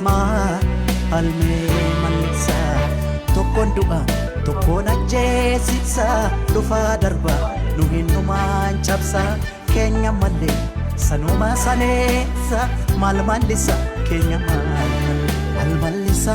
Maalmee malsa tokkoon du'a tokkoon ajjeesisa dhufaa darba nu hin dhumaan cabsa keenya malee sanuma saneessa maal mallisa keenya maal mallisa.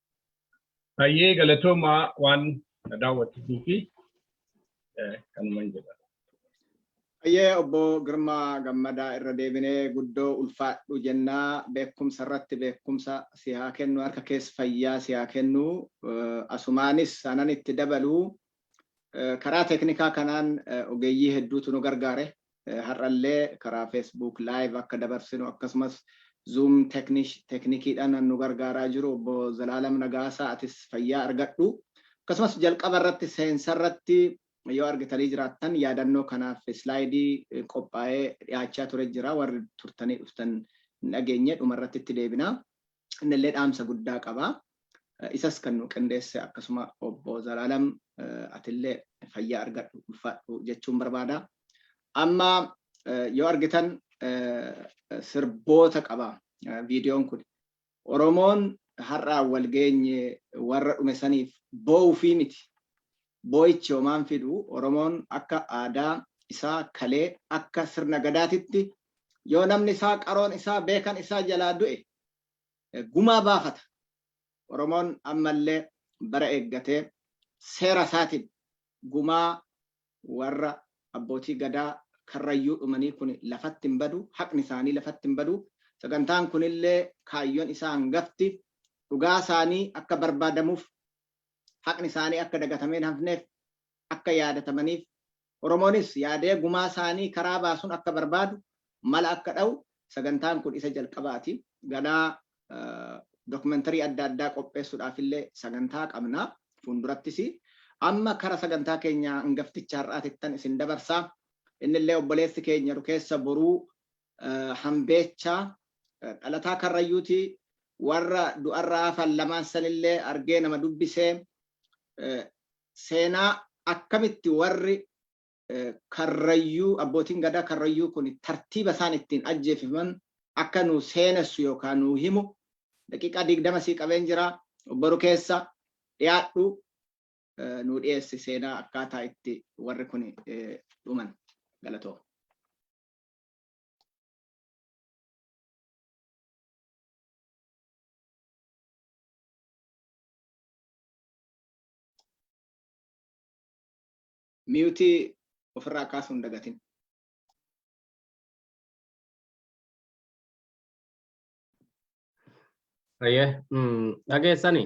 Hayyee galatoomaa waan na daawwattuu fi kanuman jedha. Hayyee obbo Girmaa Gammadaa irra deebinee guddoo ulfaadhu jennaa beekumsa irratti beekumsa si haa kennu harka kees fayyaa si haa kennu asumaanis sanan itti dabaluu Karaa teeknikaa kanaan ogeeyyii hedduutu nu gargaare. Har'allee karaa Facebook live akka dabarsinu akkasumas Zoom teeknikiidhaan nu gargaaraa jiru obbo Zalaalam Nagaasaa atis fayyaa argadhu. Akkasumas jalqaba irratti seensa irratti yoo argitanii jiraattan yaadannoo kanaaf islaayidii qophaa'ee dhiyaachaa ture jira warri turtanii dhuftan hin dhageenye dhuma irratti itti deebina. innillee dhaamsa guddaa qaba. Isas kan nu qindeesse akkasuma obbo Zalaalam atillee fayyaa argadhu ulfaadhu jechuun barbaada. Amma yoo argitan sirboota qaba viidiyoon kun. Oromoon har'aa wal geenye warra dhume saniif boo'uufii miti. Boo'ichi homaan fidu Oromoon akka aadaa isaa kalee akka sirna gadaatitti yoo namni isaa qaroon isaa beekan isaa jalaa du'e gumaa baafata. Oromoon ammallee bara eeggatee seera isaatiin gumaa warra abbootii gadaa karrayyuu dhumanii kun lafatti hin badu, haqni isaanii lafatti hin badu. Sagantaan kunillee kaayyoon isaa hangafti dhugaa isaanii akka barbaadamuuf, haqni isaanii akka dagatamee hin hafneef, akka yaadatamaniif Oromoonis yaadee gumaa saanii karaa baasun akka barbaadu mala akka dha'u sagantaan kun isa jalqabaati. Ganaa documentary adda addaa qopheessudhaaf illee sagantaa qabna fuuldurattis. Amma kara sagantaa keenya angafticha har'aatittan isin dabarsa. Inni illee obboleessi keenya Rukeessa Boruu Hambeechaa dhalataa Karrayyuuti. Warra du'arraa hafan lamaan sanillee argee nama dubbisee seenaa akkamitti warri Karrayyuu abbootiin Gadaa Karrayyuu kun tartiiba isaan ittiin ajjeefaman akka nu seenessu yookaan nu himu daqiiqaa digdama sii qabeen jira boru keessa dhiyaadhu nu dhiyeessi seenaa akkaataa itti warri kun dhuman galatoo. miyutii ofirraa kaasuu hin dagatin. Ayyee dhageessani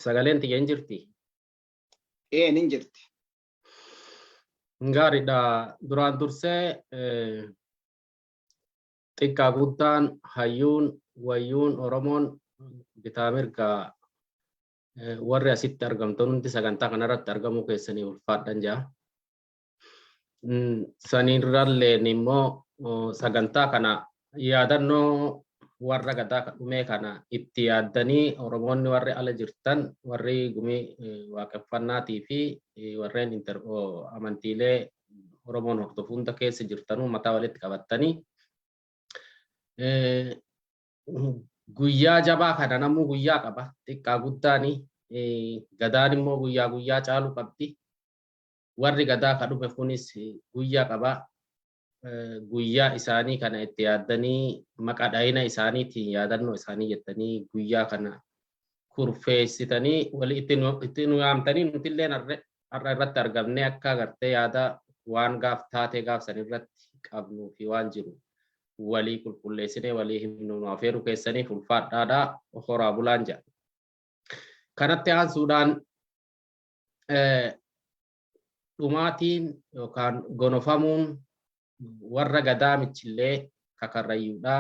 sagaleen tiyya hin jirti. Ee nin jirti. Gaariidha duraan dursee xiqqaa guddaan hayyuun wayyuun Oromoon bitaa mirgaa Warri asitti argamtan hundi sagantaa kanarratti argamuu keessanii ulfaadhan jaa. Saniirralleen immoo sagantaa kana yaadannoo warra gadaa dhumee kana itti yaaddanii Oromoonni warri ala jirtan warri gumii waaqeffannaatii fi warreen amantiilee Oromoon hordofu hunda keessa jirtanuu mataa walitti qabattanii guyyaa jabaa kana namuu guyyaa qaba xiqqaa guddaani gadaan immoo guyyaa guyyaa caalu qabdi warri gadaa ka dhufe kunis guyyaa qaba guyyaa isaanii kana itti yaaddanii maqaa dhayina isaaniitiin yaadannoo isaanii jettanii guyyaa kana kurfeessitanii walii itti nu yaamtanii nuti illee har'a irratti argamnee akka agartee yaada waan gaaf taatee gaaf san irratti qabnuu fi waan jiru walii qulqulleessinee walii himnu nu afeeruu keessaniif ulfaadhaadha horaa bulaan jedha. Kanatti aansuudhaan dhumaatiin yookaan gonofamuun warra gadaa michillee kakarrayyuudha.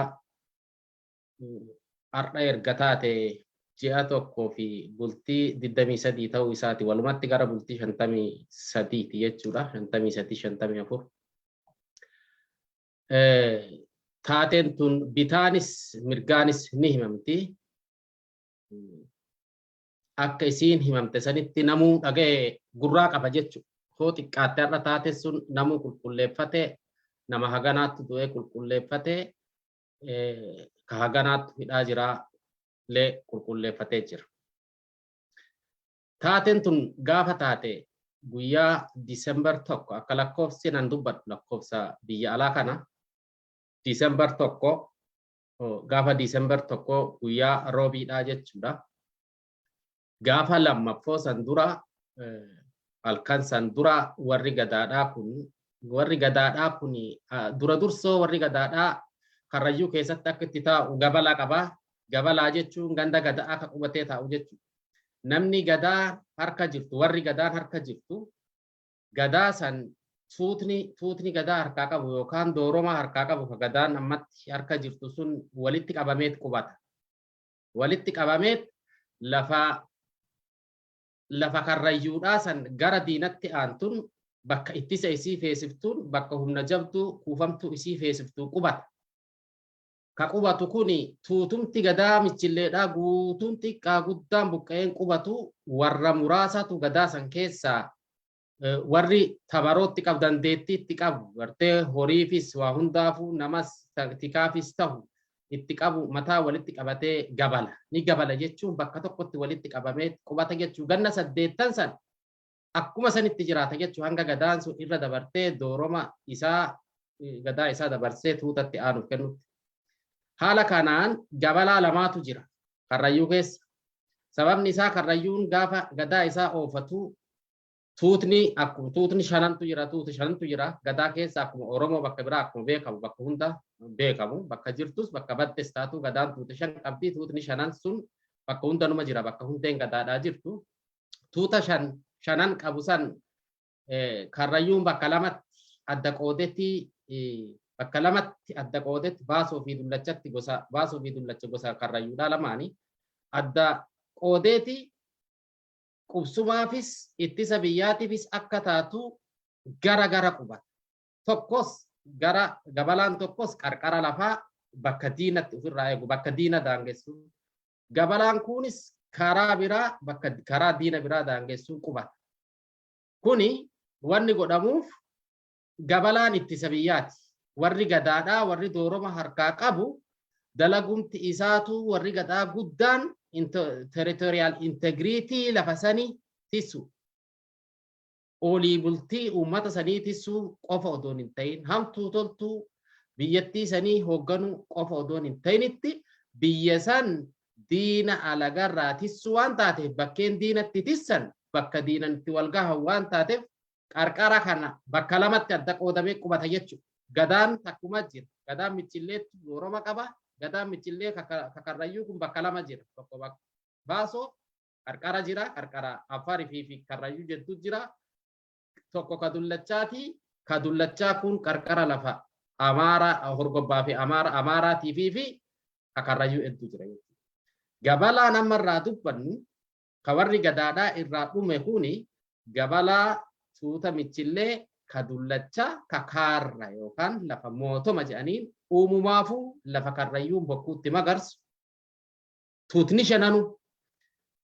Har'a erga taate ji'a tokkoo fi bultii 23 ta'uu isaati walumatti gara bultii 53 ti jechuudha 53 54 taateen tun bitaanis mirgaanis ni himamti. Akka isiin himamte sanitti namuu dhaga'e gurraa qaba jechuudha. Hoo xiqqaatte har'a taate sun namuu qulqulleeffate nama haganaatti du'ee qulqulleeffate ka haganaatti hidhaa jiraa illee qulqulleeffatee jira. Taateen tun gaafa taate guyyaa December 1 akka lakkoofsi nan dubbadhu lakkoofsa biyya alaa kana December 1 gaafa December 1 guyyaa roobiidhaa jechuudha. Gaafa lammaffoo san dura halkan san dura warri gadaadhaa kun warri gadaadhaa kun dura dursoo warri gadaadhaa karrayyuu keessatti akka itti taa'u gabala qabaa Gabalaa jechuun ganda Gadaa akka qubatee taa'u jechuudha. Namni Gadaa harka jirtu, warri Gadaan harka jirtu, Gadaa san tuutni tuutni Gadaa harkaa qabu yookaan dooromaa harkaa qabu ka Gadaan ammatti harka jirtu sun walitti qabameet qubata. Walitti qabameet lafa lafa karrayyuudhaa san gara diinatti aantuun bakka ittisa isii feesiftuun bakka humna jabduu kuufamtuu isii feesiftuu qubata. ka qubatu kuni tuutumti gadaa michilleedhaa guutuun xiqqaa guddaan buqqa'een qubatu warra muraasaatu gadaa san keessaa warri tamarootti qabu dandeettii itti qabu gartee horiifis waa hundaafuu namas tikaafis tahu itti qabu mataa walitti qabatee gabala ni gabala jechuun bakka tokkotti walitti qabamee qubata jechuu ganna saddeettan san akkuma sanitti jiraata jechuun hanga gadaan sun irra dabartee dooroma isaa gadaa isaa dabarsee tuutatti aanuuf kennutti. Haala kanaan jabalaa lamaatu jira karrayyuu keessa. Sababni isaa karrayyuun gaafa gadaa isaa oofatu tuutni akkuma tuutni shanantu jira tuuti shanantu jira gadaa keessa akkuma Oromoo bakka biraa akkuma beekamu bakka hunda beekamu bakka jirtus bakka battes taatu gadaan tuuti shan qabdi tuutni shanan sun bakka hundanuma jira bakka hundeen gadaadhaa jirtu tuuta shan shanan qabu san karrayyuun bakka lamatti adda qoodetti bakka lamatti adda qoodetti baasoo fi dullachatti gosa baasoo fi dullacha gosa karrayyuudhaa lamaanii adda qoodeeti qubsumaafis ittisa biyyaatiifis akka taatu gara gara qubata. Tokkos gara gabalaan tokkos qarqara lafaa bakka diinatti ofirraa eegu bakka diina daangessu Gabalaan kunis karaa biraa bakka karaa diina biraa daangessuun qubata. Kuni wanni godhamuuf gabalaan ittisa biyyaati. Warri gadaadhaa warri dooroma harkaa qabu dalagumti isaatu warri gadaa guddaan territorial integrity lafa sanii tisu. olii bultii uummata sanii tissuu qofa odoon hin ta'in hamtuu toltuu biyyattii sanii hoogganuu qofa odoon hin ta'initti biyya san diina alagarraa tissuu waan taateef bakkeen diinatti tissan bakka diinan itti wal gahan waan taateef qarqara kana bakka lamatti adda qoodamee qubata jechuudha. Gadaan takkuma jira. Gadaan michilleetti yooroma qaba. Gadaan michillee kakarrayyuu kun bakka lama jira. Tokko bakka baasoo qarqara jira qarqara affaar fi fi karrayyuu jettu jira tokko ka dullachaati ka dullachaa kun qarqara lafa amaara horgobbaa fi amaara amaaraatii fi fi ka karrayyuu hedduu jira jechuudha. Gabalaa nama irraa dubbannu ka warri gadaadhaa irraa dhume kuni gabalaa tuuta michillee ka dullachaa ka kaarra yookaan lafa mootoma jedhaniin uumumaafuu lafa karrayyuun bokkuutti magarsu tuutni shananu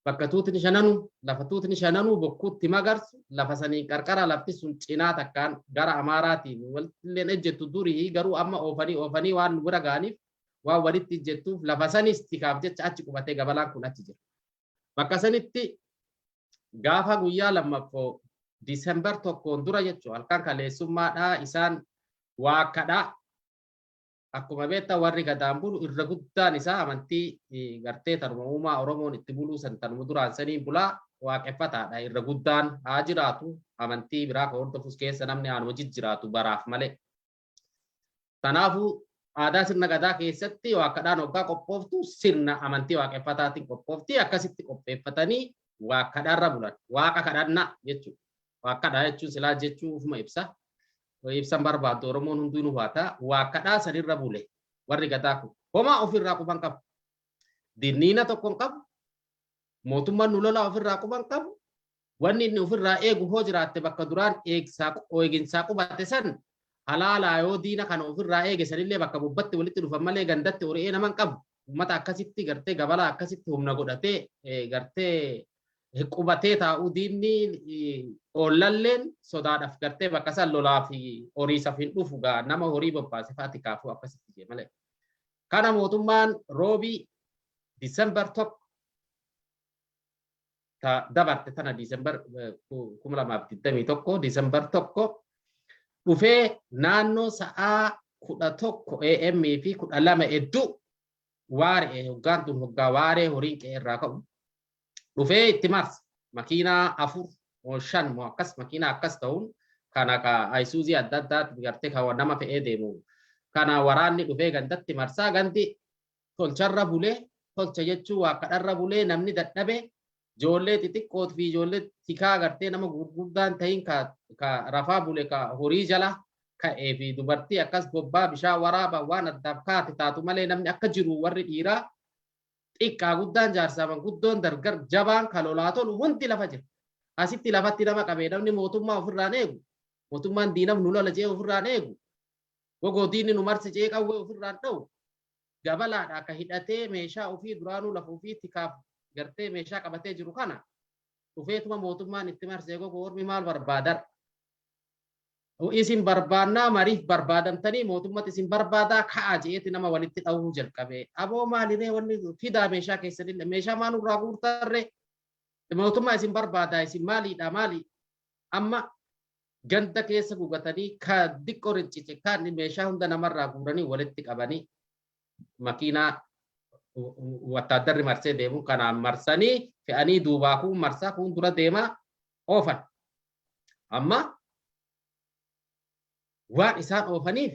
bakka tuutni shananu lafa tuutni shananu bokkuutti magarsu lafa saniin qarqara lafti sun cinaa takkaan gara amaaraatiin walilleen ejjettu durii garuu amma oofanii oofanii waan bira ga'aniif waan walitti ejjettuuf lafa sanis tikaaf jecha achi qubatee gabalaan kun achi jira. Bakka sanitti gaafa guyyaa lammaffoo Disembar tokkoon dura jechuun halkan kaleessummaadhaa isaan waakkadhaa akkuma beektan warri gadaan bulu irra guddaan isaa amantii gartee tanuma uumaa Oromoon itti buluu san tanuma duraan saniin bulaa waaqeffataadha irra guddaan haa jiraatu amantii biraa kan hordofus keessa namni aanuma jijjiraatu baraaf malee. Kanaafuu aadaa sirna gadaa keessatti waakkadhaan waggaa qophooftu sirna amantii waaqeffataatiin qophoofti akkasitti qopheeffatanii waakkadhaarra bulan waaqa kadhannaa jechuudha. Waakkadhaa jechuun silaa jechuu ofuma ibsa. Yoo ibsan barbaaddu Oromoon hunduu nu haata waa kadhaa sanirra bule warri gadaa kun. Homaa ofirraa quban qabu. Dinniina tokkon qabu. Mootummaan nu lolaa ofirraa quban qabu. Wanni inni ofirraa eegu hoo jiraatte bakka duraan eegsaa eeginsaa qubate san halaalaa yoo diina kana ofirraa eege sanillee bakka bubbatti walitti dhufan malee gandatti ori'ee naman qabu. Uummata akkasitti gartee gabalaa akkasitti humna godhatee gartee qubatee taa'uu diinni oollalleen sodaadhaaf gartee bakka san lolaa fi horiisaf hin dhufu gaa nama horii bobbaase fa'aa tikaafuu akkasitti jee malee. Kana mootummaan roobii Disembar tokko ta dabarte tana Disembar kuma lamaaf digdamii tokko Disembar tokko dhufee naannoo sa'aa kudha tokko AM fi kudha lama hedduu waare hoggaan tun hoggaa waaree horiin qe'ee irraa ka'u dhufee itti marse makiinaa afur moo shan moo akkas makiinaa akkas ta'uun kan akka ayisuuzii adda addaatti gartee kan nama fe'ee deemu kana waraanni dhufee gandatti marsaa gandi tolcharra bulee tolcha jechuun waa kadharra bulee namni dadhabe Ijoollee xixiqqoot fi ijoollee tikaa agartee nama gurguddaan tahin ka, ka rafaa bule ka horii jala ka'ee fi dubartii akkas bobbaa bishaan waraaba waan addaaf kaate taatu malee namni akka jiru warri dhiiraa xiqqaa guddaan jaarsaa manguddoon dargar jabaan ka lolaa tolu hundi lafa jira. Asitti lafatti nama qabee namni mootummaa ofirraan eegu mootummaan diinaf nu lola jee ofirraan eegu gogoo diinni nu marse jee qawwee ofirraan dha'u Dabalaadha ka hidhatee meeshaa ufii duraanuu lafa ufii tikaaf gartee meeshaa qabatee jiru kana dhufeetuma mootummaan itti marsee gogo ormi maal barbaadar? U isin barbaannaa mariif barbaadamtanii mootummati isin barbaadaa ka'aa je'eeti nama walitti dhawuu jalqabee. Aboo maaliree wanni fidaa meeshaa keessanillee meeshaa maa nurraa guurtarree? Mootummaa isin barbaadaa isin maaliidhaa maali? Amma Ganda keessa gugatanii kaan diqqoo rincice kaan meeshaa hunda namarraa guuranii walitti qabanii makiinaa wattaaddarri marsee deemu kanaan marsanii fe'anii duubaa kuun marsaa kuun dura deemaa oofan. Amma waan isaan oofaniif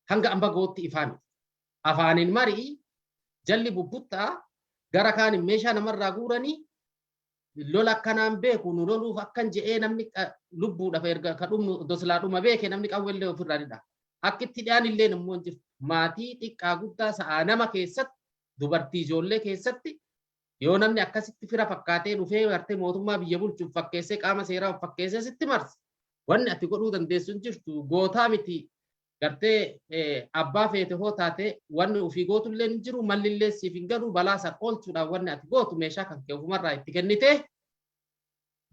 hanga amma gootti ifaa miti. Afaaniin marii jalli bubbuttaa gara kaaniin meeshaa namarraa guuranii lola akkanaan beeku nu loluuf akkan je'ee namni lubbuudhaaf erga ka dhumnu doslaa dhuma beeke namni qawwellee ofirraa ni dhaha. Akki itti dhi'aan illee immoo hin jirtu. Maatii xiqqaa guddaa sa'aa nama keessatti dubartii ijoollee keessatti yoo namni akkasitti fira fakkaatee dhufee gartee mootummaa biyya bulchuuf fakkeessee qaama seeraa of fakkeessee sitti marse wanni ati godhuu dandeessu hin jirtu gootaa miti gartee abbaa feete hoo taate wanni ofii gootullee hin jiru mallillee siif hin galu balaa san oolchuudhaaf wanni ati gootu meeshaa kan kee ofumarraa itti kennitee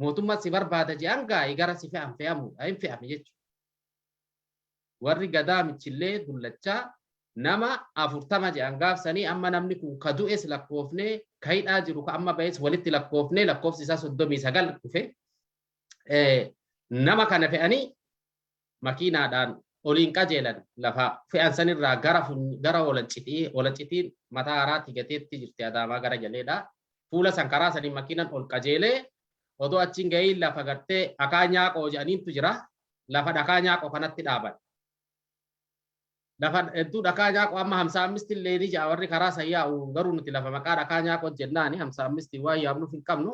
mootummaa si barbaada je'an gaa'i gara si fe'an fe'amuudha hin fe'ame jechuudha. Warri gadaa michillee dullachaa nama afurtama je'an gaafsanii amma namni kun ka du'es lakkoofnee ka hidhaa jiru ka amma ba'es walitti lakkoofnee lakkoofsi isaa soddomii sagal dhufe nama kana fe'anii makiinaadhaan oliin qajeelan lafa fe'an san irraa gara gara Walacciti. Walaccitiin mataa haraatti gateetti jirti Adaamaa gara jaleedha. Fuula san karaa saniin makiinan ol qajeelee odoo achiin ga'iin lafa gartee Akaa Nyaaqoo jedhaniintu jira. Lafa dhakaa Nyaaqoo kanatti dhaaban. Lafa hedduu dhakaa nyaaqoo amma hamsaa ammisti illee ni ja'a warri karaa san yaa'u garuu nuti lafa maqaa dhakaa nyaaqoo jennaani hamsaa ammisti waan yaamnuuf hin qabnu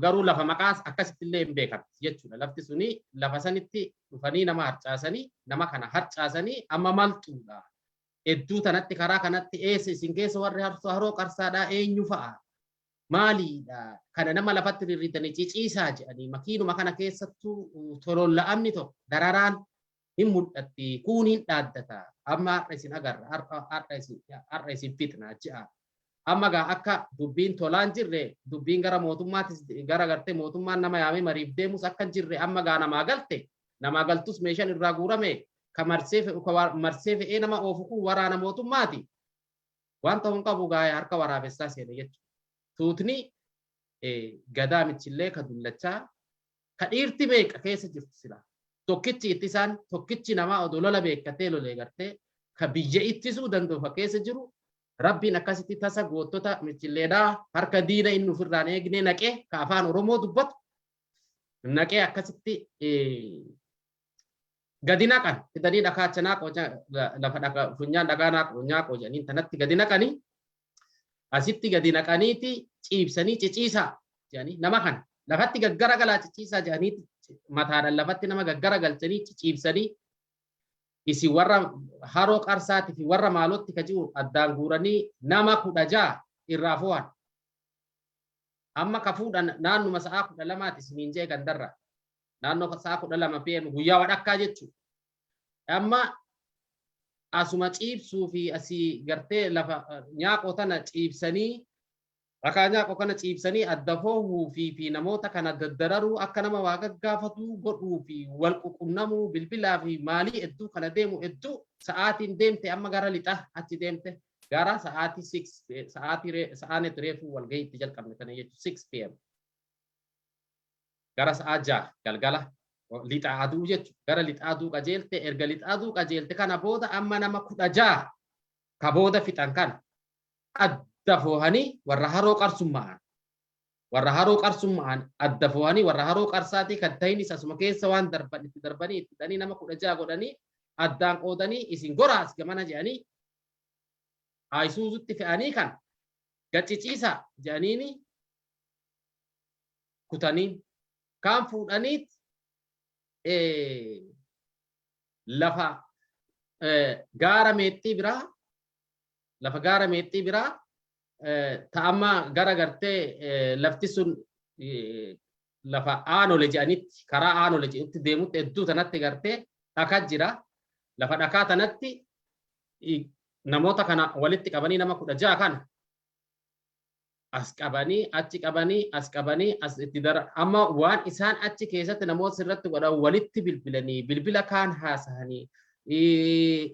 garuu lafa maqaa akkasitti illee hin beekamti jechuudha lafti suni lafa sanitti dhufanii nama harcaasanii nama kana harcaasanii amma maltuudha hedduu tanatti karaa kanatti eessa isin keessa warri harsoo haroo qarsaadhaa eenyu fa'a maaliidha kana nama lafatti rirritanii ciciisaa jedhanii makiinuma kana keessattuu tololla'amni tokko dararaan hin mul'atti, kuun hin dhaaddata, amma har'a isin agarra, har'a, har'a isin, har'a isin fixna je'a. Amma gaa akka dubbiin tolaa hin jirre, dubbiin gara mootummaatis, gara gartee mootummaan nama yaamee mariif deemus akka hin jirre amma gaa namaa galte, namaa galtus meeshaan irraa guurame, ka marsee fe'u, ka wa- marsee fe'ee nama oofu kun waraana mootummaati. Waan ta'u hin qabu gaa harka waraabessaa seene jechuudha. Tuutni eh, gadaa michillee ka dullachaa Ka dhiirti meeqa keessa jirti silaa? Tokkichi ittisaan tokkichi namaa odoo lola beekkatee lolee gartee ka biyya ittisuu danda'u ka keessa jiru Rabbiin akkasitti tasa goottota michilleedhaa harka diina inni ofirraan eegnee naqee ka afaan Oromoo dubbatu naqee akkasitti gadi naqan fidanii dhakaa acha naaqoo lafa funyaan dhagaa naaqoo nyaaqoo jedhaniin tanatti gadi naqanii asitti gadi naqaniiti ciibsanii ciciisaa jedhanii nama kana lafatti gaggara galaa ciciisaa jedhanii mataadhaan lafatti nama gaggara galchanii ciciibsanii isin warra haroo qarsaati fi warra maalootti ka jiru addaan guuranii nama kudha ja'a irraa fo'an. Amma ka fuudhan naannuma sa'aa kudha lamaati isiniin jee gandarra. Naannoo sa'aa kudha lama PM guyyaa wadhakkaa jechuudha. Amma asuma ciibsuu fi asii gartee lafa nyaaqoo tana ciibsanii rakaa nyaaqoo kana ciibsanii adda foohuu fi fi namoota kana daddararuu akka nama waa gaggaafatuu godhuu fi wal ququnnamuu bilbilaa fi maalii hedduu kana deemu hedduu sa'aatiin deemte amma gara lixaa achi deemte gara sa'aatii 6 sa'aatii sa'aanetti reefuu wal gahiitti jalqabne tana jechuudha 6 pm. Gara sa'a 6:00 galgala, lixa aduu jechu, gara lixa aduu qajeelte, erga lixa aduu qajeelte kana booda amma nama 16 ka booda fixan kana adda foohanii warra haroo qarsumma'aan, warra haroo qarsumma'aan adda foohanii warra haroo qarsaatii kan tahinis asuma keessa waan darban itti darbanii itti hidhanii nama 16 godhanii addaan qoodanii isin goraa as gamana jedhanii Ayisuuzutti fe'anii kan gacciciisaa jedhaniini kutanii kaan fuudhaniit lafa gaara meexxii biraa lafa gaara meexxii biraa ta'amma gara gartee lafti sun lafa aanole jedhanitti karaa aanole jedhutti deemutti hedduu tanatti gartee dhakaa jira lafa dhakaa tanatti namoota kana walitti qabanii nama kudha ja'a kana as qabanii achi qabanii as qabanii as itti dara amma waan isaan achi keessatti namoota sirratti godhan walitti bilbilanii bilbila kaan haasahanii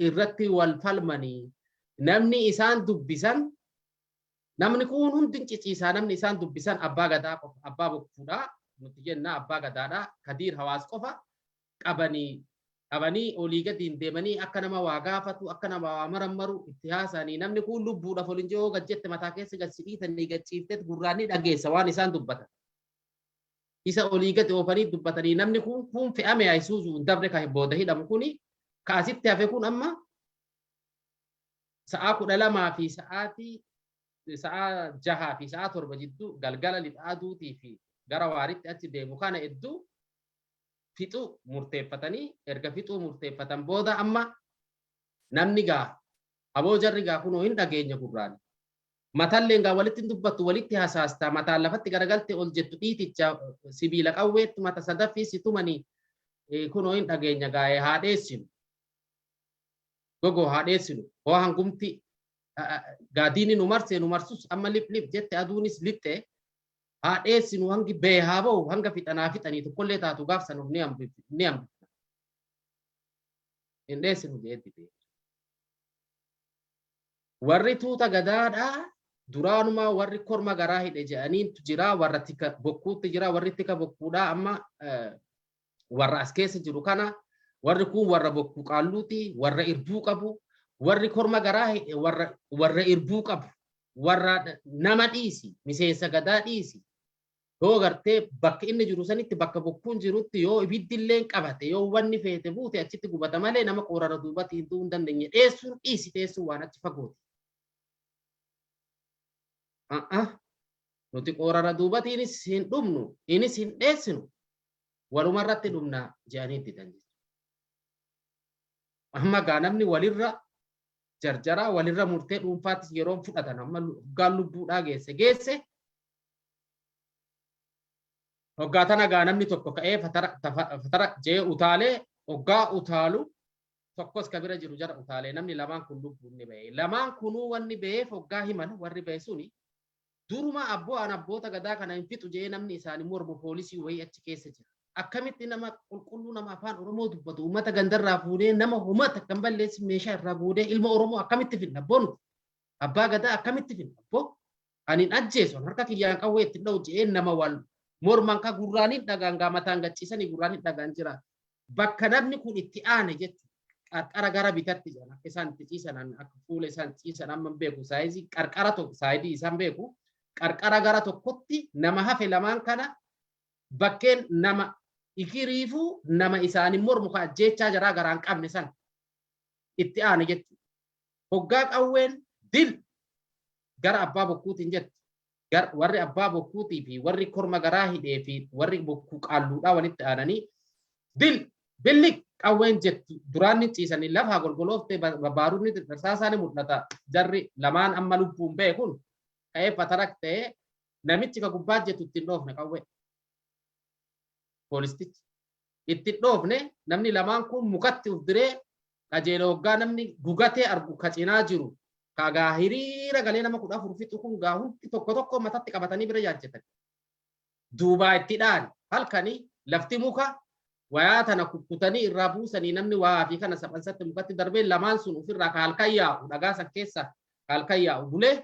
irratti wal falmanii namni isaan dubbisan namni kun hundi ciciisaa namni isaan dubbisan abbaa gadaa qofa abbaa bokkuudhaa nuti jenna abbaa gadaadhaa kadiir hawaas qofa qabani qabani olii gadiin deemanii akka nama waa gaafatu akka nama waa marammaru itti haasa'anii namni kun lubbuudhaaf ol hin jiru yoo gad jette mataa keessa gad si dhiitanii gad ciifteet gurraan ni dhageessa waan isaan dubbatan. Isa olii gadi oofanii dubbatanii namni kun kun fe'ame Ayisuuzuu hin dabre kan booda hidhamu kuni ka asitti hafe kun amma sa'aa kudha lamaa fi sa'aatii sa'aa jahaa fi sa'aa torba jidduu galgala lixa aduutii fi gara waaritti achi deemu kana hedduu fixuu murteeffatanii erga fixuu murteeffatan booda amma namni gaa aboo jarri gaa kunoo hin dhageenya gurraan matalleen gaa walitti hin dubbattu walitti hasaasta mataan lafatti garagalte ol jettu dhiiticha sibiila qawweetti mata sadaffii si tumanii eh, kunoo hin dhageenya gaa eh, haa dheessinu gogoo haa dheessinu hoo hangumti ah, ah, gaa diinni nu marsee nu marsus amma lip lip jette aduunis lixxee haa dheessinu hangi ba'e haa ba'u hanga fixanaa fixanii tokkollee taatu gaaf san of ni hambif- ni hambifna. Hin dheessinu jedhee dide. Warri tuuta gadaadhaa duraanumaa warri korma garaa hidhe jedhaniintu jira warra tika bokkuutti jira warri tika bokkuudhaa amma eh, warra as keessa jiru kana warri kun warra bokkuu qaalluuti warra irbuu qabu warri korma garaa hidhe warra warra irbuu qabu warra nama dhiisi miseensa gadaa dhiisi yoo gartee bakka inni jiru sanitti bakka bokkuun jirutti yoo ibiddi illee qabate yoo wanni feete buute achitti gubata malee nama qoorara duubatti hin du'uu hin dandeenye dheessuun dhiisi dheessuun waan achi fagooti. Nuti qoorara duubatiinis hin dhumnu innis hin dheessinu waluma irratti dhumna jedhanii didan jechuudha. Amma gaa namni walirra jarjaraa walirra murtee dhuunfaattis yeroon fudhatan amma hoggaan lubbuudhaa geesse geesse hoggaa tana gaa namni tokko ka'ee fatara tafa- fatara jee utaalee hoggaa utaalu tokkos ka bira jiru jara utaalee namni lamaan kun lubbuun ni ba'e lamaan kunuu wanni ba'eef hoggaa himan warri ba'e suni Duruma abbo an abboota gadaa kana hin fixu jedhee namni isaani mormu poolisii wayii achi keessa jira. Akkamitti nama qulqulluu nama afaan Oromoo dubbatu uummata gandarraa fuunee nama homaa takka hin balleessin meeshaa irraa goodee ilma Oromoo akkamitti finna abboo nuti? Abbaa gadaa akkamitti finna abboo? Ani hin ajjeesu an harka kiyyaan qawwee itti hin dha'u jedhee nama wal morman ka gurraan hin dhagaan gaa mataan gachiisanii gurraan hin dhagaan jira. bakka namni kun itti aane jechuudha. Qarqara gara bitatti jedhan akka isaan itti ciisan akka fuula isaan itti ciisan amma beeku saayizii qarqara tokko saayidii isaan beeku qarqara gara tokkotti nama hafe lamaan kana bakkeen nama ikiriifuu nama isaanii mormu ka ajjeechaa jaraa garaan qabne san itti aane jechuudha. Hoggaa qawween dil gara abbaa bokkuutiin jettu gar, warri abbaa bokkuutii fi warri korma garaa hidhee fi warri bokkuu qaalluudhaa walitti aananii bil, billiq qawween jettu duraan ni ciisanii lafaa golgolooftee ba, baarudni xixirsaasaa ni mul'ata jarri lamaan amma lubbuun ba'e kun ka'ee fatarak ta'ee namichi ka gubbaa jettu ittiin dhoofne qawwee. Poolistichi. itti hin dhoofne namni lamaan kuun mukatti uf diree qajeele hoggaa namni gugatee argu ka cinaa jiru ka gaa hiriira galee nama kudha afur fixu kun gaa hundi tokko tokko matatti qabatanii bira jaajjatan duubaa itti dhaani halkanii lafti muka wayaa tana kukkutanii irraa buusanii namni waa fi kana saphansatti mukatti darbee lamaan sun ofirraa ka halkan yaa'u dhagaa san keessa ka halkan yaa'u bulee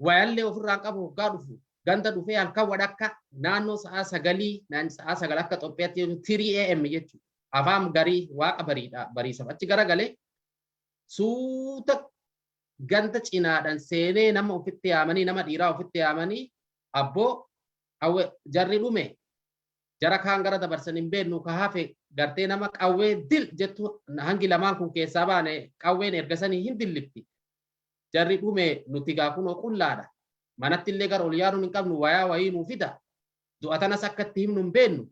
wayallee ofirraan qabu hoggaa dhufu ganda dhufee halkan wadhakka naannoo sa'aa sagalii naan sa'aa sagal akka Xoophiyaatti 3am jechuudha. Afaan garii waaqa bariidha bariisaf achi garagalee suuta ganda cinaadhaan seenee nama ofitti yaamanii nama dhiiraa ofitti yaamanii abboo qawwee jarri dhume jara kaan gara dabarsan hin beeknu ka hafe gartee nama qawwee dil jettu hangi lamaan kun keessaa baane qawween ergasanii hin dillifti. Jarri dhume nuti gaa kunoo qullaadha. Manatti illee gara ol yaaduun hin qabnu wayaa wayii nuu fida. Du'a tanas akka itti himnu hin beeknu.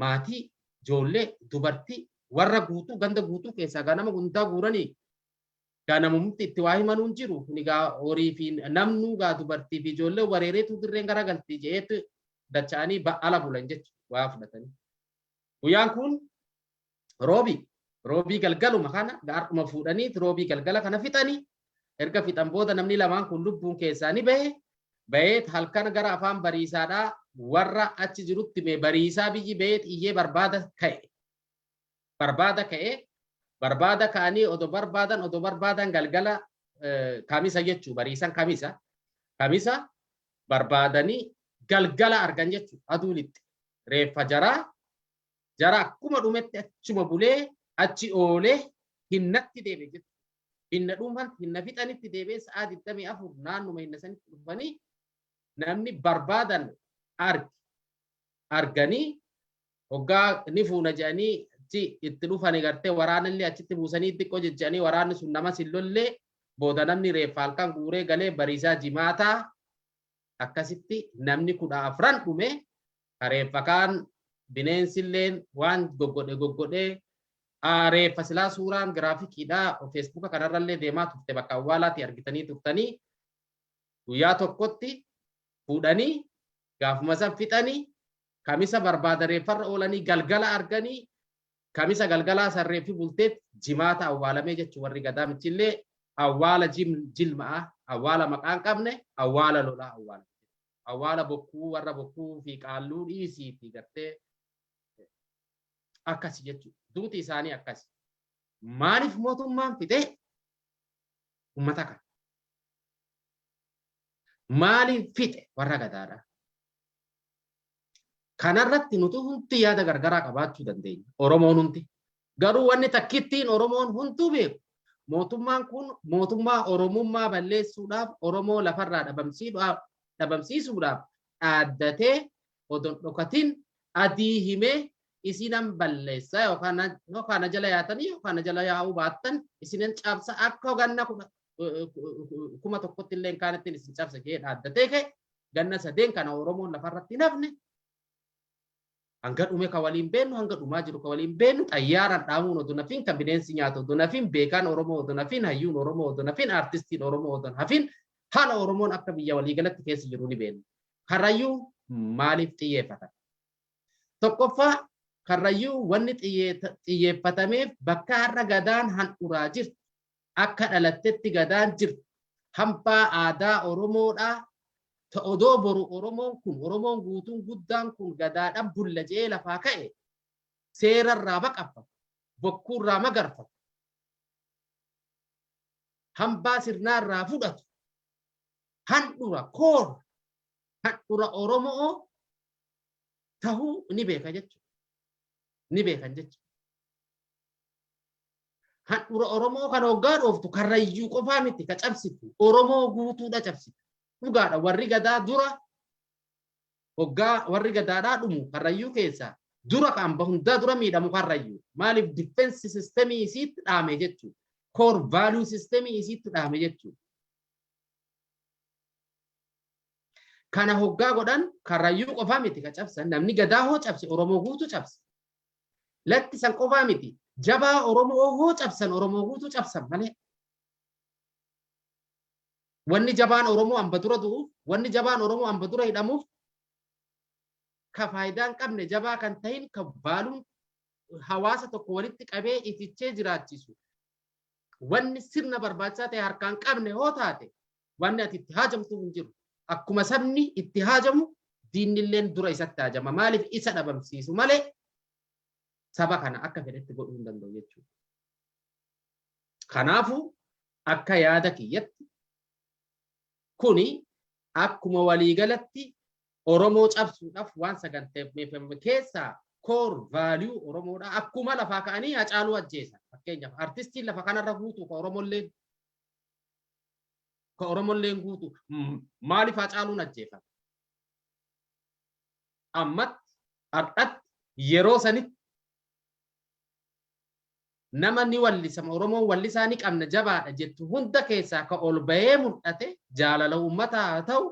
Maatii, ijoollee, dubartii, warra guutuu ganda guutuu keessaa gaa nama hundaa guuranii gaa namumti itti waa himanuu hin jiru. Kuni gaa horii fi namnuu gaa dubartii fi ijoollee wareereetu dirreen gara galti je'eetu dacha'anii ala bulan jechuudha waa fudhatanii. Guyyaan kun Roobii roobii galgaluma kana gaardhuma fuudhanii roobii galgala kana fixanii erga fixan booda namni lamaan kun lubbuun keessaa ni bahe baheet halkan gara afaan bariisaadhaa warra achi jirutti mee bariisaa biyyi baheet iyyee barbaada ka'e barbaada ka'e barbaada ka'anii odo barbaadan odo barbaadan galgala kamisa jechuu bariisan kamisa kamisa barbaadanii galgala argan jechuu aduunitti reeffa jaraa Jara akkuma dhumetti achuma bulee achi oolee hinnatti deebi'e jechuudha. Hinna dhuunfan hinna fixanitti deebi'ee sa'aa 24 naannuma hinna sanitti dhufanii namni barbaadan arge. Arganii hoggaa ni fuuna jedhanii achi itti dhufanii gartee waraanallee achitti buusanii xiqqoo jechanii waraanni sun namas hin lollee booda namni reeffa halkan guuree galee bariisaa jimaataa akkasitti namni kudha afran dhume Ka reeffa kaan bineensilleen waan goggodhe goggodhee aa reeffa silaa suuraan giraafikiidha feesbuuka kanarrallee deemaa turte bakka awwaalaatii argitanii turtanii guyyaa tokkotti fuudhanii gaafuma san fixanii kamisa barbaada reeffarra oolanii galgala arganii kamisa galgalaa san reeffi bulteet jimaata awwaalamee jechuun warri gadaa michillee awwaala jilma'a awwaala maqaan qabne awwaala lolaa awwaala awwaala bokkuu warra bokkuu fi qaalluu dhiisiiti gartee akkasi jechuudha. Duuti isaanii akkasi. Maaliif mootummaan fixee uummata kana? Maaliif fixe warra gadaadhaa? Kanarratti nuti hundi yaada gargaraa qabaachuu dandeenya. Oromoon hundi. Garuu wanni takkittiin Oromoon hunduu beeku mootummaan kun mootummaa Oromummaa balleessuudhaaf Oromoo lafarraa dhabamsiisuudhaaf dhaaddatee odon dhokatin adii himee isinan balleessa yookaan na jala yaatanii yookaan na jala yaa'uu baattan isinan cabsa akka ganna kuma tokkotti illee kaanittiin isin cabsa jee dhaaddatee ka'e ganna sadeen kana Oromoon lafarratti hin hafne hanga dhume ka waliin beennu hanga dhumaa jiru ka waliin beennu xayyaaraan dhaamuun odoo nafiin kan bineensi nyaatu odoo nafiin beekaan Oromoo odoo nafiin hayyuun Oromoo odoo nafiin aartistiin Oromoo odoo hafiin haala Oromoon akka biyya waliigalatti keessa jiru ni beenna. Karrayyuu maaliif xiyyeeffatan? Tokkoffaa karrayyuu wanni xiyyeeffatameef bakka har'a gadaan handhuraa jirtu Akka dhalattetti Gadaan jirti. Hambaa aadaa Oromoodha. Ta odoo boru Oromoon kun, Oromoon guutuun guddaan kun Gadaadhaan bulla jedhee lafaa ka'e seera irraa baqaffatu, bokkuu irraa magarfatu, hambaa sirnaa irraa fudhatu, handhura, core, handhura Oromoo tahuu ni beeka jechuudha. Ni beekan jechuudha. Handhura Oromoo kan hoggaa dhooftu karrayyuu qofaa miti ka cabsitu Oromoo guutuudha cabsita. Dhugaadha warri gadaa dura hoggaa warri gadaadhaa dhumu karrayyuu keessaa dura ka amba hundaa dura miidhamu karrayyuu maaliif difeensi sistemii isiitti dhaame jechuu koor vaaluu sistemii isiitti dhaame jechuu. Kana hoggaa godhan karrayyuu qofaa miti ka cabsan namni gadaa hoo cabse Oromoo guutuu cabse. Lakki san qofaa miti. Jabaa Oromoo hoo cabsan Oromoo guutuu cabsan malee. Wanni jabaan Oromoo amba dura du'uuf, wanni jabaan Oromoo amba dura hidhamuuf ka faayidaa hin qabne jabaa kan ta'in ka baaluun hawaasa tokko walitti qabee itichee jiraachisu wanni sirna barbaachisaa ta'e harkaan qabne hoo taate Wanni ati itti haajamtu hin jiru. Akkuma sabni itti haajamu diinnilleen dura isatti haajama. Maaliif isa dhabamsiisu malee saba kana akka fedhetti godhuu hin danda'u jechuudha. Kanaafuu akka yaada kiyyatti kuni akkuma waliigalatti Oromoo cabsuudhaaf waan saganteeffame keessaa koor vaaliyuu Oromoodha. Akkuma lafaa ka'anii Hacaaluu ajjeesan. Fakkeenyaaf artistiin lafa kanarra guutuu kan Oromollee Ka Oromolleen guutu maaliif Haacaaluun ajjeefame? Ammatti, har'atti, yeroo sanitti nama ni wallisama Oromoon wallisaa ni qabna jabaadha jettu hunda keessaa ka ol bahee mul'ate jaalala uummataa haa ta'u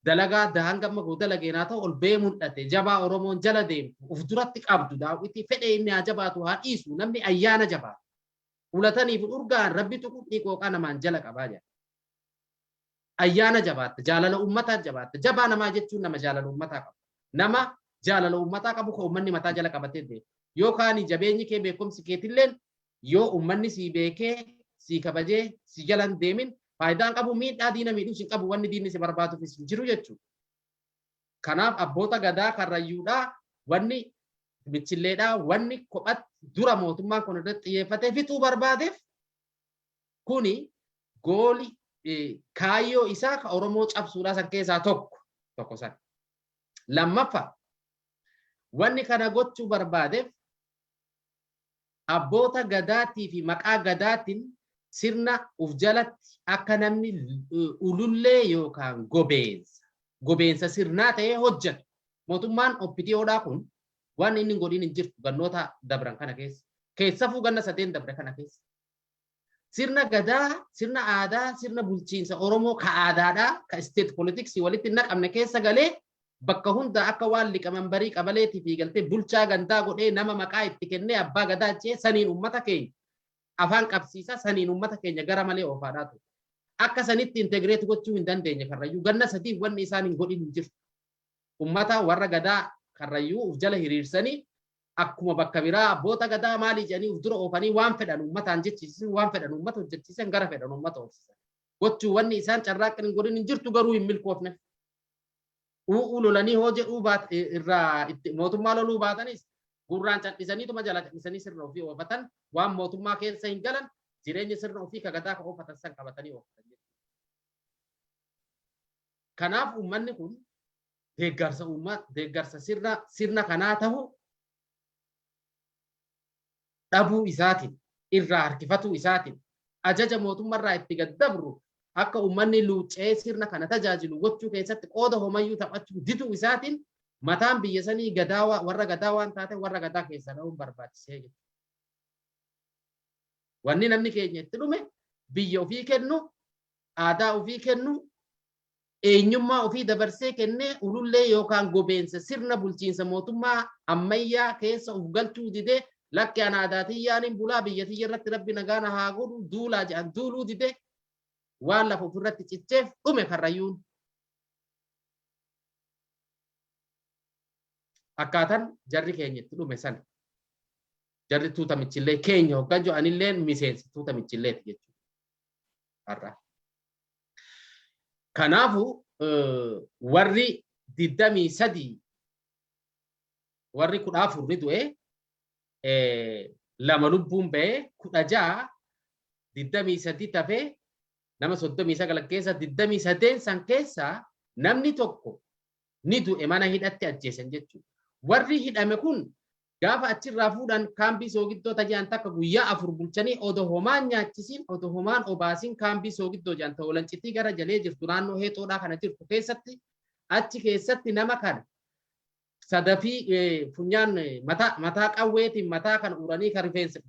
dalagaa adda hanga amma goo dalageen haa ta'u ol bahee mul'ate jabaa Oromoon jala deemtu of duratti qabdu daawwitii fedhee inni haa jabaatu haa dhiisu namni ayyaana jabaatu ulatanii fi urgaan rabbi tuqu dhiiqooqaa namaan jala qabaa jedha. Ayyaana jabaatta, jaalala uummataa jabaatta, jabaa namaa jechuun nama jaalala uummataa qabu. Nama jaalala uummataa qabu kan uummanni mataa jala qabatee beeku. Yoo kaanii jabeenyi kee beekumsi keetilleen yoo uummanni sii beekee sii kabajee si jalan deemin faayidaan qabu miidhaa diina miidhus hin qabu wanni diinni si barbaaduufis hin jiru jechuudha. Kanaaf abboota gadaa karrayyuudhaa wanni michilleedhaa wanni kophatti dura mootummaan kun irratti xiyyeeffatee fixuu barbaadeef kuni gooli kaayyoo isaa ka Oromoo cabsuudhaa san keessaa tokko tokko san. Lammaffa wanni kana gochuu barbaadeef Abboota Gadaattii fi maqaa Gadaatiin sirna uf jalatti akka namni ulullee yookaan gobeensa, gobeensa sirnaa ta'ee hojjatu. Mootummaan OPDOdhaa kun waan inni hin godhiin hin jirtu gannoota dabran kana keessa. Keessafuu ganna sadeen dabre kana keessa. Sirna gadaa, sirna aadaa, sirna bulchiinsa Oromoo ka aadaadhaa, ka isteet politiksii walitti hin naqamne keessa galee bakka hundaa akka waan liqaman barii qabaleetii fi galtee bulchaa gandaa godhee nama maqaa itti kennee abbaa gadaa jee saniin uummata keenya afaan qabsiisaa saniin uummata keenya gara malee oofaadhaa ture. Akka sanitti integreet gochuu hin dandeenye karrayyuu ganna sadii wanni isaan hin godhin hin jiru. Uummata warra gadaa karrayyuu uf jala hiriirsanii Akkuma bakka biraa abboota gadaa maalii jedhanii of dura oofanii waan fedhan uummataan jechiisisan, waan fedhan uummata hojjechiisan, gara fedhan uummata oofsisan. Gochuu wanni isaan carraaqqin hin godhin hin jirtu garuu hin milkoofne. U'uu lolanii hoo jedhuu baat- i- irraa itti mootummaa loluu baatanis gurraan cadhisaniituma jala cadhisanii sirna ofii oofatan waan mootummaa keessa hin galan jireenya sirna ofii ka gadaa ka oofatan san qabatanii oofatan jechuudha. Kanaaf uummanni kun deeggarsa uummat deeggarsa sirna sirna kanaa tahu dhabuu isaatiin irraa harkifatuu isaatiin ajaja mootumma irraa itti gad dabru akka uummanni luuccee sirna kana tajaajilu gochuu keessatti qooda homayyuu taphachuu diduu isaatiin mataan biyya sanii gadaa warra gadaa waan taate warra gadaa keessaa dhahuun barbaachisee jira. Wanni namni keenya itti dhume biyya ofii kennu aadaa ofii kennu eenyummaa ofii dabarsee kennee ulullee yookaan gobeensa sirna bulchiinsa mootummaa ammayyaa keessa of galchuu didee lakki an aadaa tiyyaanin bulaa biyya tiyya irratti rabbi nagaa na haa godhu duulaa jedhan duuluu didee waan lafa ofirratti cicheef dhume karrayyuun. akkaatan jarri keenya itti dhume sana jarri tuuta michillee keenya hoggaa jiru anillee miseensa tuuta michilleeti jechuudha. Har'a Kanaafu warri digdamii sadii warri kudha afur ni du'e lama lubbuun ba'e kudha ja'a digdamii sadii tafe nama soddomii sagal keessa digdamii sadeen san keessa namni tokko ni du'e mana hidhatti ajjeesan jechuudha. Warri hidhame kun gaafa achirraa fuudhan kaambii soogiddoo tajaan takka guyyaa afur bulchanii odo homaan nyaachisiin odo homaan obaasiin kaambii soogiddoo jaan ta'u lancitii gara jalee jirtu naannoo heexoodhaa kana jirtu keessatti achi keessatti nama kana sadafii funyaan mataa mataa qawweetiin mataa kan uranii kan rifeensa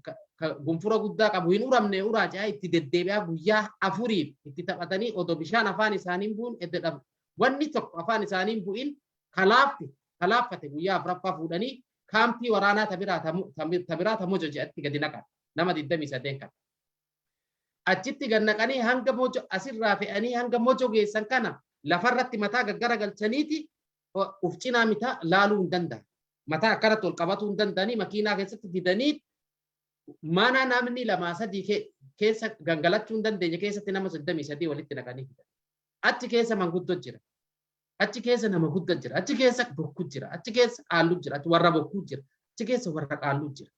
gunfura guddaa qabu hin uramne uraa ce'aa itti deddeebi'aa guyyaa afuriif itti taphatanii odo bishaan afaan isaanii buun edda wanni tokko afaan isaanii hin bu'in ka laafte ta laaffate guyyaa afraffaa fuudhanii kaampii waraanaa ta biraa ta mu- ta mi- ta biraa ta mojo jedhatti gadi naqan nama 28 kan achitti gad naqanii hanga mojo asirraa fe'anii hanga mojo geessan kana lafarratti mataa gaggara galchaniiti o- uf cinaa mitaa laaluu hin danda'an mataa akkanatti ol qabatuu hin danda'anii makiinaa keessatti didanii mana namni lamaa sadii ke- keessa gangalachuu hin dandeenye keessatti nama 33 walitti naqanii fidan. Achi keessa manguddo jira. Achi keessa nama gudda jira. Achi keessa bokku jira. Achi keessa qaallu jira. Achi warra bokkuu jira. Achi keessa warra qaallu jira.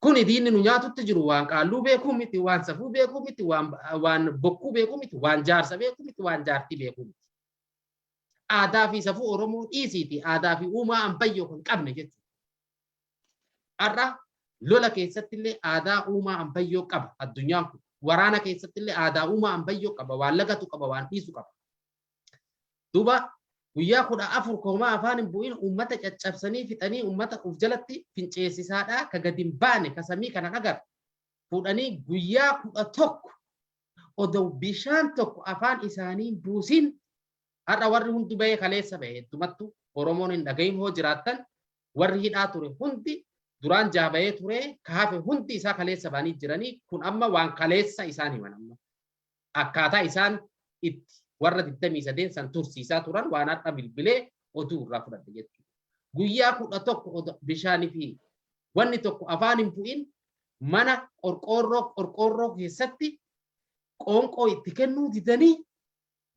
Kuni diinni nu nyaatutti jiru waan qaalluu beekuu miti, waan safuu beekuu miti, waan waan bokkuu beekuu miti, waan jaarsa beekuu miti, waan jaartii beekuu miti. Aadaa fi safuu Oromoo dhiisiiti aadaa fi uumaa ambayyoo kan qabne jechuudha. Har'a lola keessatti illee aadaa uumaa ambayyoo qaba addunyaan kun. Waraana keessatti illee aadaa uumaa ambayyoo qaba waan lagatu qaba waan dhiisu qaba. Duuba guyyaa kudha afur koomaa afaan hin bu'in uummata caccabsanii fixanii uummata of jalatti finceessisaadhaa ka gadi hin baane ka samii kana dhagar fuudhanii guyyaa kudha tokko odoo bishaan tokko afaan isaanii hin buusin har'a warri hundi bahee kaleessa bahe heddumattu Oromoon hin dhagahin hoo jiraattan Warri hidhaa ture hundi duraan jaha bahee ture ka hafe hundi isaa kaleessa bahanii jiranii kun amma waan kaleessa isaan himan amma akkaataa isaan itti warra 28 san tursiisaa turan waan har'a bilbilee oduu irraa fudhadhe jechuudha. Guyyaa kudha tokko bishaanii fi wanni tokko afaan hin bu'in mana qorqoorroo qorqoorroo keessatti qoonqoo itti kennuu didanii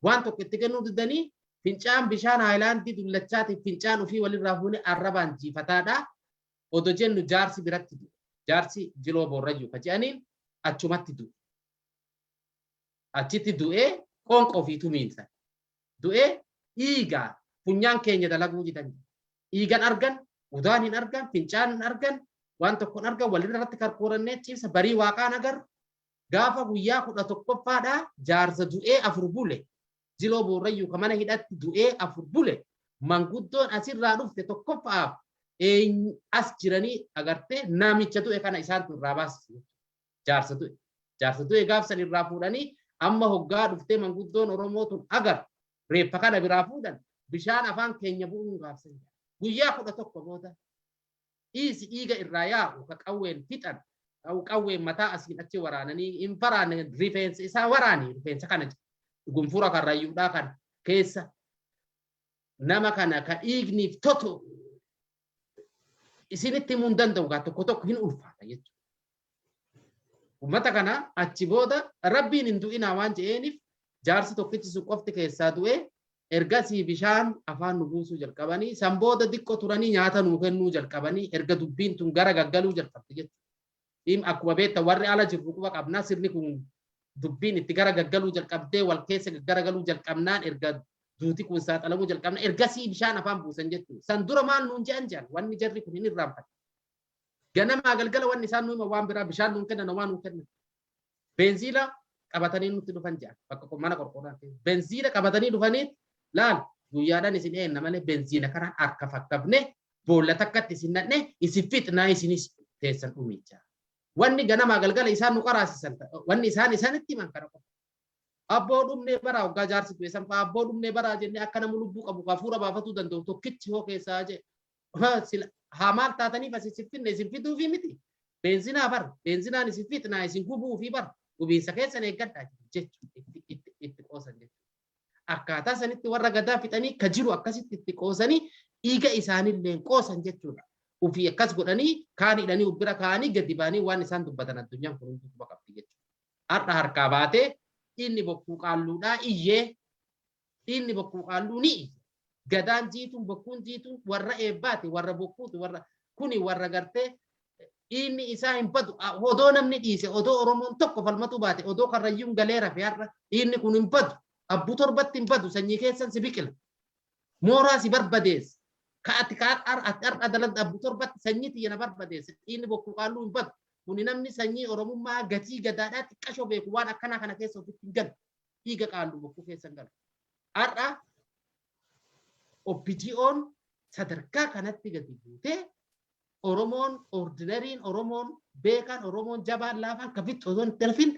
Waan tokko itti kennuu diddanii fincaan bishaan haayilaandii dullachaatiif fincaan ofii walirraa fuune arrabaan jiifataadha. Odo jennu jaarsi biratti du'e. Jaarsi jiloo boorrayyuu ka je'aniin achumatti du'e. Achitti du'ee qoonqa ofii tumiinsa. Du'ee dhiiga funyaan keenya dalaguu didan. Dhiigan argan, udaan hin argan, fincaan hin argan, waan tokko hin argan walirratti karkoorannee ciibsa barii waaqaan agarru gaafa guyyaa 11ffaadhaa jaarsa du'ee afur bule jiloo boorrayyuu ka mana hidhatti du'ee afur bule manguddoon asirraa dhufte tokkoffaaf eenyu as jiranii agartee namicha du'e kana isaantu irraa baasise jaarsa du'e jaarsa du'e gaafsan irraa fuudhanii amma hoggaa dhuftee manguddoon Oromoo tun agar reeffa kana biraa fuudhan bishaan afaan keenya bu'uun gaafsan guyyaa kudha tokko booda dhiisi dhiiga irraa yaa'u ka qawween fixan qawween mataa asiin achi waraananii hin faraanne rifeensa isaa waraani rifeensa kana gunfura kan rayyuudhaa kan keessa nama kana ka dhiigniif totu isinitti himuu hin danda'u gaa tokko tokko hin ulfaata jechuudha. Ummata kana achi booda rabbiin hin du'inaa waan je'eeniif jaarsi tokkichi sun qofti keessaa du'e ergasii bishaan afaan nu buusuu jalqabanii san booda diqqo turanii nyaata nuu kennuu jalqabanii erga dubbiin tun gara gaggaluu jalqabdi jechuudha. Dhiim akkuma beektan warri ala jirru quba qabnaa sirni kun dubbiin itti gara gaggaluu jalqabdee wal keessa gaggaragaluu jalqabnaan erga duuti kun saaxilamuu jalqabna ergasii bishaan afaan buusan jechuudha. San dura maal nuun je'an je'an wanni jarri kun hin irraanfatan. Ganamaa galgala wanni isaan nu hima waan biraa bishaan nuun kennan homaa nuun kennan. Beenziila qabatanii nutti dhufan jedhan bakka qo- mana qorqoorraa keessa. Beenziila qabatanii dhufanii laal guyyaadhaan isin eenna malee beenziila kanaan harka fakkafne boolla takkatti isin nadhne isin fixnaa isinis teessan dhumicha. Wanni ganamaa galgala isaan nu qaraasisan ta- wanni isaan isaanitti himan kana qofa. Abboo dhumnee baraa hoggaa jaarsi du'e sanfaa abboo dhumnee baraa jennee akka nama lubbuu qabu hafuura baafatuu danda'u tokkichi hoo keessaa jee haa maal taataniif as isin finne isin fixuufii miti beenzinaa bar beenzinaan isin fixnaa isin gubuufii bar gubiinsa keessan eeggadhaa jechuun itti qoosan jechuudha. Akkaataa sanitti warra gadaa fixanii ka jiru akkasitti itti qoosanii dhiiga isaanillee qoosan jechuudha. Ofii akkas godhanii kaan hidhanii ubbira kaanii gadi baanii waan isaan dubbatan addunyaan kun hunduu quba qabdi jechuudha. Har'a harkaa baatee inni bokkuu qaalluudhaa iyyee Dhiinni bokkuu qaalluu ni iyya. Gadaan jiituun bokkuun jiituun warra eebbaati warra bokkuuti warra kuni warra gartee dhiinni isaa hin badu odoo namni dhiise odoo oromoon tokko falmatuu baate odoo karrayyuun galee rafe har'a dhiinni kun hin badu abbuu torbatti hin badu sanyii keessan si biqila mooraa si barbadeessa ka ati ka har'a dalagda abbuu torbatti sanyii tiyya na barbadeessa dhiinni bokkuu qaalluu hin badu kuni namni sanyii oromummaa gatii gadaadhaa xiqqashoo beeku waan akkanaa kana keessa ofitti hin galu dhiiga qaandu bokkuu keessa hin galu. Har'a OPDO'n sadarkaa kanatti gadi buutee Oromoon ordinariin Oromoon beekaan Oromoon jabaan laafaan kafitti osoo hin darfin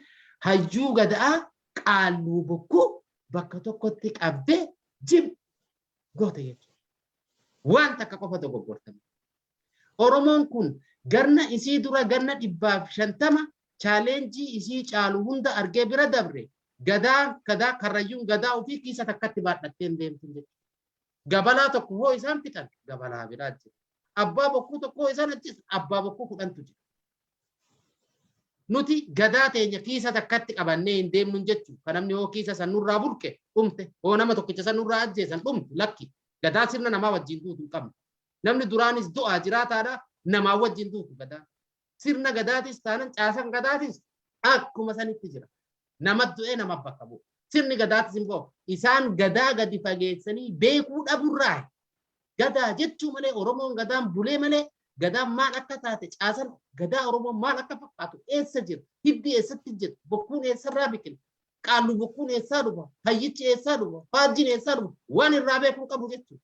hayyuu gada'aa qaalluu bokkuu bakka tokkotti qabdee jim goota jechuudha. Waan takka qofa dogoggortame. Oromoon kun ganna isii dura ganna 150 challenge isii caalu hunda argee bira dabre gadaa gadaa karrayyuun gadaa ofii kiisa takkatti baadhattee hin deemtu jechuudha. Gabalaa tokko hoo isaan fixan gabalaa biraa jira. Abbaa bokkuu tokko hoo isaan ajjeesan abbaa bokkuu kudhantu jira. Nuti gadaa teenya kiisa takkatti qabannee hin deemnu jechuudha. Kan namni hoo kiisa san nurraa burqe dhumte hoo nama tokkicha san nurraa ajjeesan dhumte lakki gadaa sirna namaa wajjin duutu hin qabne. Namni duraanis du'aa jiraataadha, namaa wajjin duutu Gadaan. Sirna Gadaatis taanan caasan Gadaatis akkuma sanitti jira. Nama du'ee nama bakka bu'u. Sirni Gadaatis immoo isaan Gadaa gadi fageessanii beekuu dhaburraa Gadaa jechuu malee Oromoon Gadaan bulee malee Gadaan maal akka taate caasan Gadaa Oromoon maal akka fakkaatu eessa jira hiddi eessatti jira bokkuun eessarraa biqila qaallu bokkuun eessaa dhufa hayyichi eessaa dhufa faajjiin eessaa dhufa waan irraa beekuu qabu jechuudha.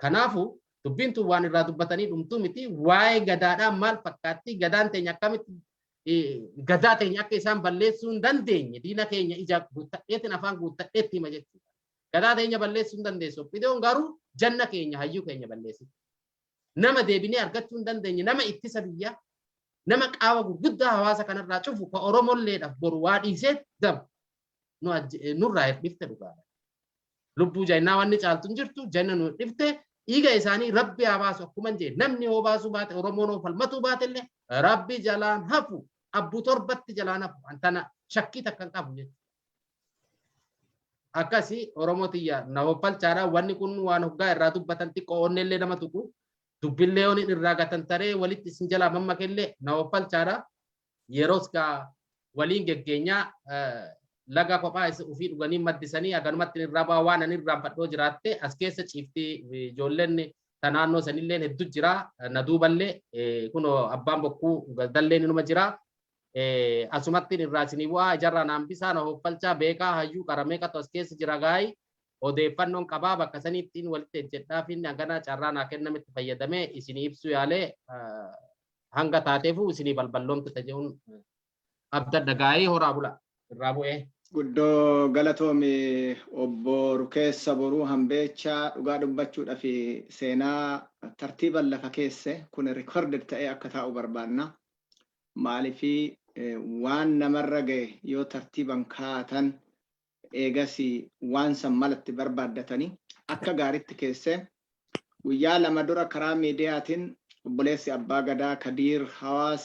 Kanaafuu dubbiin tun waan irraa dubbatanii dhumtuu miti waa'ee gadaadhaa maal fakkaattii gadaan teenya akkamitti gadaa teenya akka isaan balleessuu hin dandeenye diina keenya ija guuttadheetiin afaan guuttadheetti hima jechuudha. Gadaa teenya balleessuu hin dandeessu. Oppidoon garuu janna keenya hayyuu keenya balleessi. Nama deebinee argachuu hin dandeenye nama ittisa biyyaa nama qaawa gurguddaa hawaasa kanarraa cufu ka Oromolleedhaaf boru waa dhiisee daba. nu ajje- eh, nurraa hirdhifte dhugaadha. Lubbuu jennaa wanni caaltu hin jirtu jenna nu hirdhifte dhiiga isaanii rabbi haa baasu akkuma hin jenne namni hoo baasuu baate Oromoon hoo falmatuu baate illee rabbi jalaan hafu abbu torbatti jalaan hafu an tana shakkii takka hin qabu jechuudha. Akkasi Oromoo tiyya na hoffalchaadha wanni kun waan hoggaa irraa dubbatan xiqqoo onnee illee nama tuqu dubbillee yoon irraa gatan taree walitti isin jalaa mammakellee na hoffalchaadha. Yeros gaa waliin geggeenyaa laga kophaa isa ofii dhuganii maddisanii aganumatti irraa baa waan ani irraan fadhoo jiraatte as keessa ciifti ijoolleen ta naannoo sanilleen heddu jira na duuballee kuno abbaan bokkuu galdalleen inuma jira asumattiin irraa isinii bu'aa ijarraa naan bisaa na hoffalchaa beekaa hayyuu qaramee qatu as keessa jira gaayi odeeffannoon qabaa bakka saniittiin walitti ejjedhaa fi hagana carraa naa kennametti fayyadamee isinii ibsuu yaalee hanga taateefuu isinii balballoomte taje'uun abdadha gaa'ee horaa bula irraa bu'ee. Guddoo galatoomi obbo Rukeessa Boruu Hambeechaa dhugaa dubbachuudhaf seenaa tartiiban lafa keesse kun recorded ta'ee akka taa'u barbaanna. Maalifi waan namarra ga'e yoo tartiiban kaa'atan Eegas waan san mala itti barbaaddatanii akka gaaritti keessee guyyaa lama dura karaa miidiyaatiin obboleessi Abbaa Gadaa Kadiir Hawaas